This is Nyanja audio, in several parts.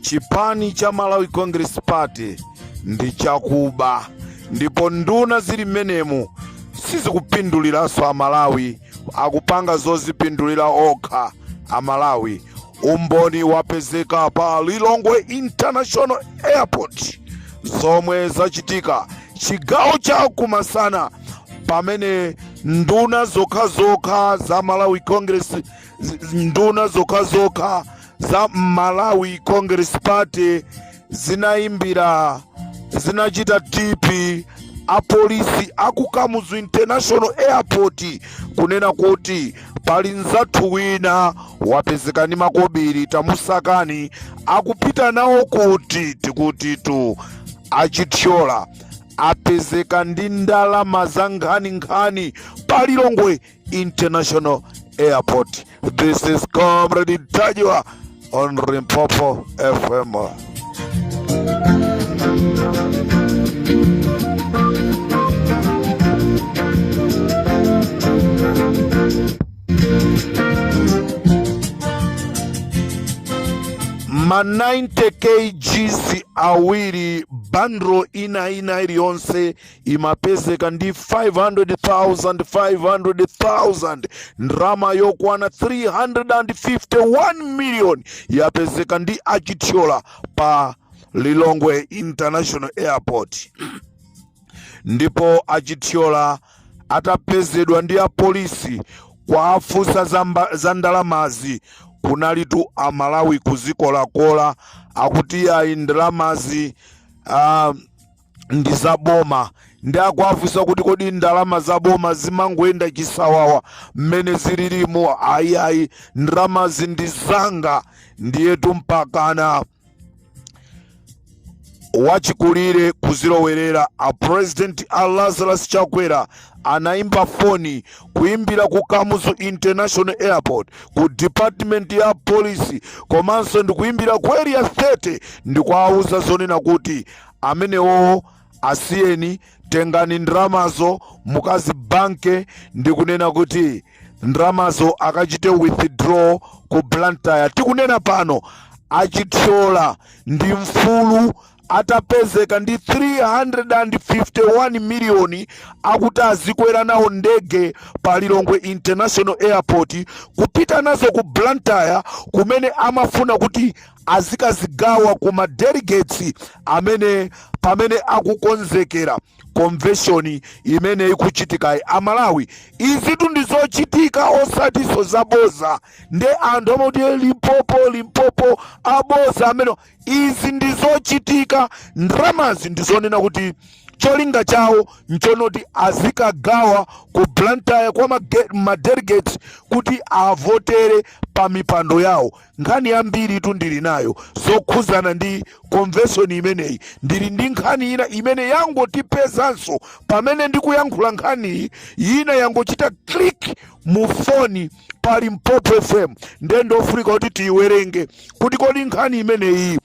chipani cha Malawi Congress Party ndi chakuba ndipo nduna zili mmenemu sizikupinduliranso amalawi akupanga zozipindulira okha amalawi umboni wapezeka pa Lilongwe International Airport zomwe zachitika chigawo cha kumasana pamene nduna zokhazokha za Malawi Congress zi- nduna zokhazokha za Malawi Congress Party zinayimbira zinachita tip apolisi a ku Kamuzu International Airport kunena kuti pali mnzathu wina wapezeka ndi makobiri tamusakani akupita nawo kuti tikutitu a Chithyola apezeka ndi ndalama zankhaninkhani pa Lilongwe International Airport. This is Comrade Tajwa on Rimpopo FM. ma 90 kgs awiri bandro ina ina iliyonse imapezeka ndi 500,000 500,000 ndrama yokwana 351 million yapezeka ndi a Chithyola pa Lilongwe International Airport ndipo a Chithyola atapezedwa ndi apolisi kuwafunsa za mba- za ndalamazi kunalitu amalawi kuzikolakola akuti ayi ndalamazi ah, ndi za boma ndiye akuwafunsa kuti kodi ndalama za boma zimangoyenda chisawawa mmene zililimu ayiayi ndalamazi ndi zanga ndiyetu mpakana wachikulire kudzalowerera a president a Lazarus Chakwera anaimba foni kuimbira ku Kamuzu International Airport ku department ya polisi komanso ndikuimbira ku Area 30 ndikuwauza zonena kuti amenewowo asiyeni, tengani ndalamazo mukazibanke ndikunena kuti ndalamazo akachite withdraw ku Blantyre. Tikunena pano a Chithyola ndi mfulu atapezeka ndi 351 miliyoni akuti azikwera nazo ndege pa Lilongwe International Airport kupita nazo ku Blantyre kumene amafuna kuti azikazigawa ku ma delegates amene pamene akukonzekera convention imene ikuchitikayi amalawi izitu ndi zochitika osatiso zaboza nde anthu amati "Eh, Limpopo Limpopo aboza amene izi ndi zochitika ndramazi ndizonena kuti cholinga chawo nchonoti azikagawa ku Blantyre kwa ma ge- ma delegates kuti avotere pa mipando yawo nkhani yambiritu ndili nayo zokhuzana ndi konveshoni imeneyi ndili ndi nkhani ina imene yangotipezanso pamene ndikuyankhula nkhaniyi ina yangochita click mu foni pa limpopo fm ndiye ndofunika kuti tiyiwerenge kuti kodi nkhani imeneyi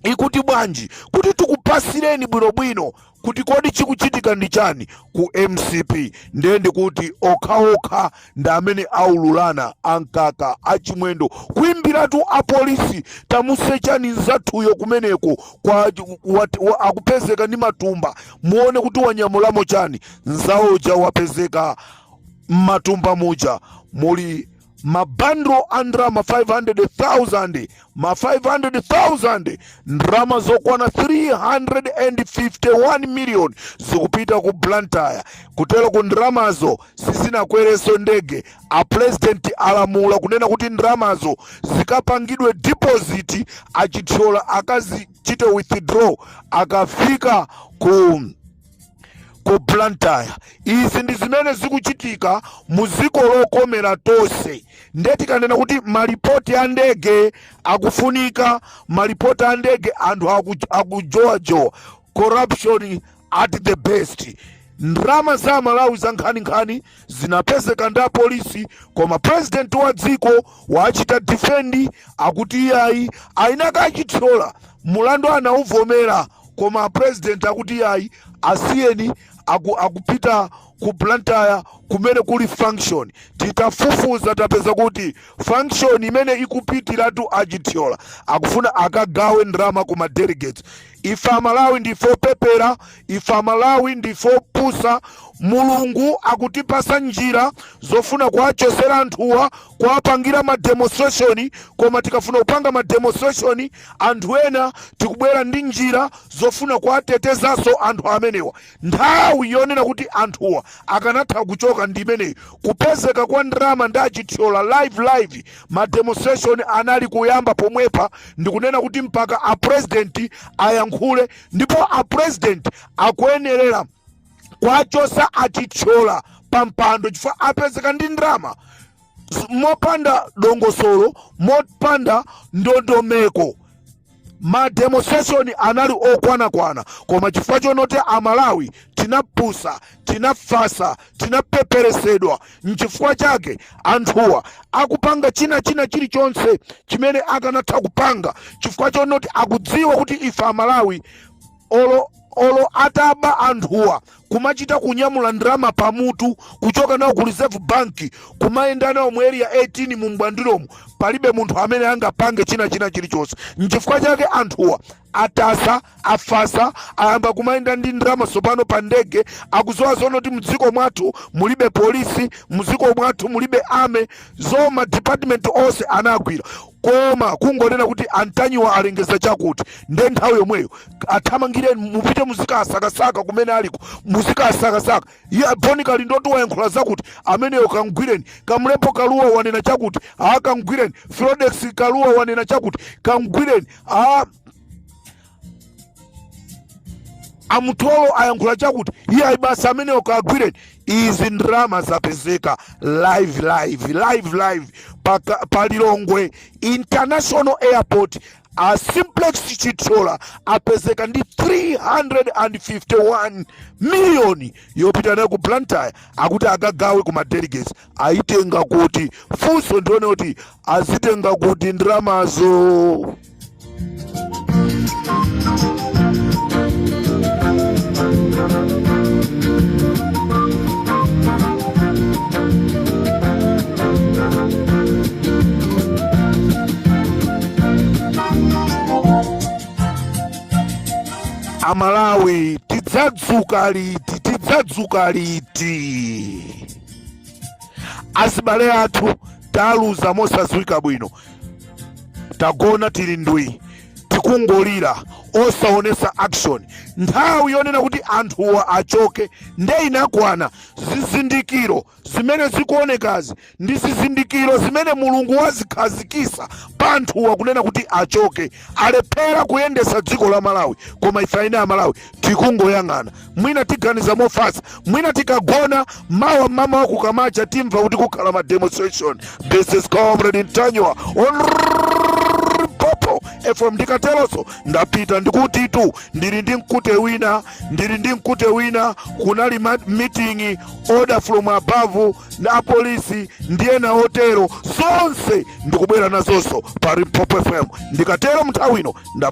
ikuti bwanji kuti tikupasireni bwinobwino kuti kodi chikuchitika ndi chani ku mcp ndiye ndikuti okhaokha ndi amene aululana ankaka achimwendo kuimbiratu apolisi tamusechani nzathuyo kumeneko kwa, wa, wa, akupezeka ndi matumba muone kuti wanyamulamo chani nzawo uja wapezeka mmatumba muja muli mabandulo a ndalama 500,000 ma 5,000 ndalama zokwana 351 million zikupita ku Blantyre kutero kuti ndalamazo sizinakwereso ndege a president alamula kunena kuti ndalamazo zikapangidwe deposit achithyola akazichite withdraw akafika ku ku blantyre izi ndi zimene zikuchitika mu dziko lokomera tonse nde tikanena kuti malipoti a ndege akufunika malipoti a ndege anthu aku- akujowajowa corruption at the best ndrama za malawi za nkhaninkhani zinapezeka ndi apolisi koma president wa dziko wachita defend akuti iyayi ainaka achithyola mulandu anauvomera koma president akuti iyayi asiyeni aku, akupita ku blantyre kumene kuli function titafufuza tapeza kuti function imene akupitiratu achithyola akufuna akagawe ndrama ku ma delegates Ife amalawi ndife opepera, ife amalawi ndife opusa, mulungu akutipasa njira zofuna kuwachosera anthuwa kuwapangira ma demonstration koma tikafuna kupanga ma demonstration anthu ena tikubwera ndi njira zofuna kuwatetezaso anthu amenewa. Nthawi yonena kuti anthuwa akanatha kuchoka ndi imeneyi. Kupezeka kwa ndalama ndi a Chithyola live live ma demonstration anali kuyamba pomwepa ndikunena kuti mpaka a president ayankhule ndipo a president akuyenerera kuwachosa a Chithyola pa mpando chifukwa apezeka ndi ndalama mopanda dongosolo mopanda ndondomeko. ma demonstration anali okwanakwana koma chifukwa chonoti amalawi tinapusa tinafasa tinapeperesedwa nchifukwa chake anthuwa akupanga china china chilichonse chimene akanatha kupanga chifukwa chonoti akudziwa kuti ife amalawi Olo olo ataba anthuwa kumachita kunyamula ndalama pamutu kuchoka nawo ku reserve bank kumayenda nawo mu area 18 mu mbwandiromu palibe munthu amene angapange china china chilichonse nchifukwa chake anthuwa atasa afasa ayamba kumayenda ndi ndalama tsopano pa ndege akuziwa zono kuti mdziko mwathu mulibe polisi mdziko mwathu mulibe ame zoma department onse anagwira koma kungonena kuti a Ntanyiwa alengeza chakuti nde nthawi yomweyo athamangireni mupite muzikasakasaka kumene aliko muzikasakasaka iye Bon Kalindotu wayankhula zakuti ameneyo kamgwireni Kamlepo Kalua wanena chakuti a kamgwireni Fredokiss Kalua wanena chakuti kamgwireni a a Mtolo ayankhula chakuti iye ayibasa amenewo kagwireni izi ndalama zapezeka live live live live paka- pa lilongwe international airport a simplex Chithyola apezeka ndi 351 miliyoni yopita nayo ku blantyre akuti akagawe ku madelegates ayitenga kuti funso ndi lonena kuti azitenga kuti ndalamazo amalawi tidzadzuka liti tidzadzuka liti azibale athu taluza mosadziwika bwino tagona tili ndwi tikungolira osaonesa action nthawi yonena kuti anthuwa achoke nde inakwana zizindikiro zimene zikuonekazi ndi zizindikiro zimene mulungu wazikhazikisa pa anthuwa kunena kuti achoke alephera kuyendesa dziko la malawi koma ife eni Amalawi tikungoyang'ana mwina tiganiza mofasa mwina tikagona mawa mmamawa kukamacha timva kuti kukhala ma demonstration this is comrade Ntanyiwa on Limpopo FM ndikateroso ndapita ndikutitu ndili ndi mkute wina ndili ndi mkute wina kunali ma- meeting order from above na apolisi ndiye na otero zonse ndikubwera nazonso pa limpopo fm ndikatero mnthawi ino nda